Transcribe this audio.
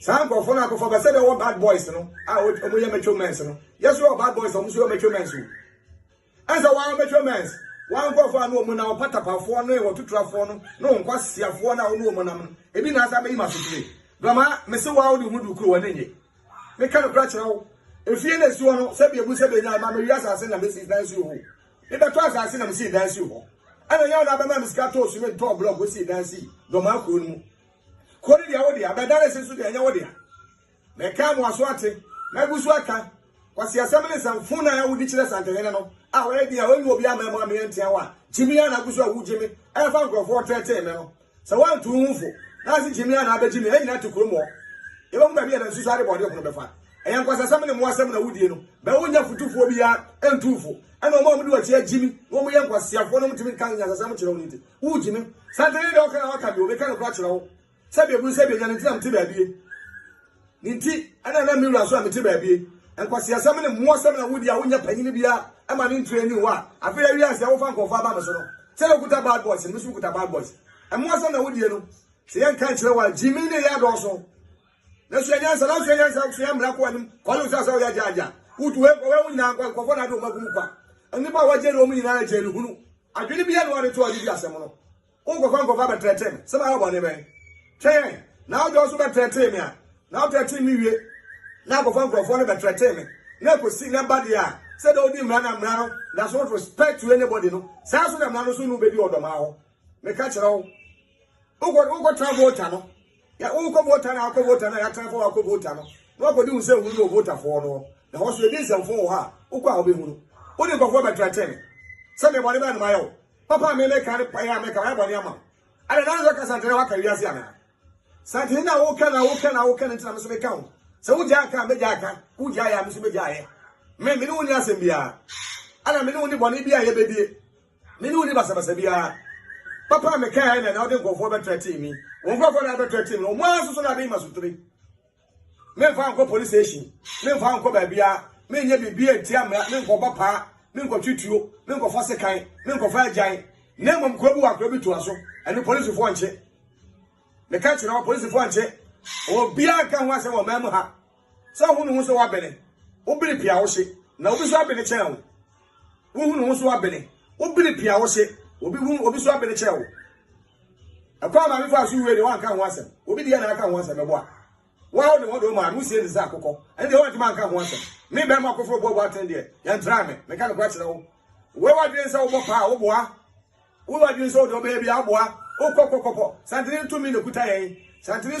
saa nkurɔfoɔ no akɔfa bɛ sɛ deɛ ɔwɔ bad boys no a wɔn yɛ mature mens no yɛ so yɛ bad boys wɔn so yɛ mature mens o ɛnsɛ wɔn mature mens wɔn nkurɔfoɔ a no wɔn na ɔpatapafoɔ no wɔ tuturafoɔ no na wɔn kwasiafoɔ no a wɔn wɔn nam no ebi na asa bɛyi ma sotire bɛma mese wɔn a wɔde wɔn du kuro wɔn ne nye meka no kura kyerɛ wo efie na esi hɔ no sɛbi ebu sɛbi enya ɛma mi wi asase na mesi dan si hɔ ebɛtɔ asase na mesi dan si hɔ ɛna nyɛ wɔn abɛma mi sika tɔɔ sumi tɔɔ blɔk osi dan si dɔm akuro no mu. Kuro no deɛ wo dea, Bɛdanase nso deɛ ɛnyɛ wo dea. Mekaa mo aso ate, magu so aka. Kwasi asɛm ne sɛ fon a wodi kyerɛ Santehene no a ɔyɛ den a ɔnni obi ama mu a meyɛ ntea wo a, Gyimii a na agu so a wogye me ɛfa nkurɔfoɔ teetee me no. Sɛ woanto wo ho fo na anse Gyimii a na abɛgye me, yɛn nyinaa te kurom hɔ. Yɛbɛhu baabi a yɛbɛnsusu adebɔne ho no bɛfa. Ɛyɛ nkwasasɛm ne mmoasɛm na wodie no. Bɛ wonnya fotufoɔ biara ntu wo fo. Ɛna wɔn a wɔde w'akyi agye me na wɔyɛ nkwaseafoɔ na wɔntumi nka nyansasɛm nkyerɛ wo no nti, Wogye me. Satan yi deɛ ɔka na waka deɛ ɔbɛka no kora kyerɛ wo sɛ deɛ ɛbunu sɛ deɛ nya no nti na mete baabie ne nti ɛna na me wura so a mete baabie nkwasiasɛm ne mmoasɛm na wodi a wonya panyini bia ɛma ne ntire ni hɔ a afei awie asɛ wofa nkɔfo aba me so no sɛ na okuta bad boys no me so kuta bad boys mmoasɛm na wodie no sɛ yɛnka nkyerɛ wo a gyimi ne yɛ adɔɔso na sua nyansa na sua nyansa sua mmara kɔ anim kɔle wo sɛ sɛ woyɛ agya agya wotu wei kɔ wei wo nyinaa nkɔ nkɔfɔ na ade wɔn agum kwa nnipa a wɔgye ne wɔn nyinaa agye ne hunu adwene bi yɛ no ɔde to ɔde di asɛm no wonkɔfa nkɔfa abɛtrɛtrɛ me sɛ mayɛ bɔne bɛn twɛn na wode ɔso bɛtrɛtrɛ me a na wotrɛtrɛ me wie na akɔfa nkurɔfoɔ no bɛtrɛtrɛ me na ɛkɔsi na ɛba deɛ a sɛ dɛ wodi mmara na mmara no da so respect to anybody no saa so na mmara no so no bɛdi ɔdɔmaa hɔ meka kyerɛ wo wokɔtra vota no Ya wo kɔ vota na akɔ vota na yɛatena fa wakɔ vota no na wakɔdi wo sɛ hunu no votafoɔ no na hɔ so yɛdi nsɛmfo wɔ hɔ a wokɔ a wobɛhu no wode nkɔfoɔ bɛtrɛtɛ me sɛ mebɔne bɛɛ no mayɛ wo papa a memeka ne payɛ a meka mayɛ bɔne ama ada na nso ka santene waka wiase anaa santene na woka na woka na woka no nti na me so meka ho sɛ wogyaa ka a mɛgyaa ka wogyaa yɛ a me so mɛgyaa yɛ me me ne wo ni asɛm biara ana me ne wo ni bɔne bi a yɛbɛdie Me ne wo ni basabasa biara. Papa a mekaeɛ na na wode nkurɔfoɔ bɛtrɛtee me. Wɔn nkurɔfoɔ na bɛtrɛtee me. Wɔn ara soso na bɛyi masotire. Memfa nkɔ police station. Memfa nkɔ baabiara. Menyɛ biribiara ntia mmara. Menkɔbɔ paa. Menkɔtwe tuo. Menkɔfa sekan. Menkɔfa agyan. Na mmom kuro bi wɔ akora bi toa so. Ɛno polisifoɔ nkye. Meka kyerɛ wɔ polisifoɔ nkye. Obiara nka ho asɛm wɔ man mu ha. Sɛ wohu ne ho sɛ wabene, wobene pii a wohye, na obi nso abene kyɛn wo. Wohu ne ho sɛ wabene, wobene pii a wohye, obi hu obi nso abene kyɛn wo. Ɛkwan a maame faa so wue deɛ wanka ho asɛm. Obi deɛ na aka ho asɛm ɛboa. Wa wo de wɔde wo maame wosie ne sɛ akokɔ. Ɛne deɛ wantumi anka ho asɛm. Me bɛrima akoforo boaboa atene deɛ yɛntraa me. Meka no kora kyerɛ wo. Wei wadwene sɛ wobɔ paa woboa. Wei wadwene sɛ wode ɔbɛyɛ bi a woboa. Wokɔkɔkɔpɔ. Santene tumi na ɛkuta yɛn. Santene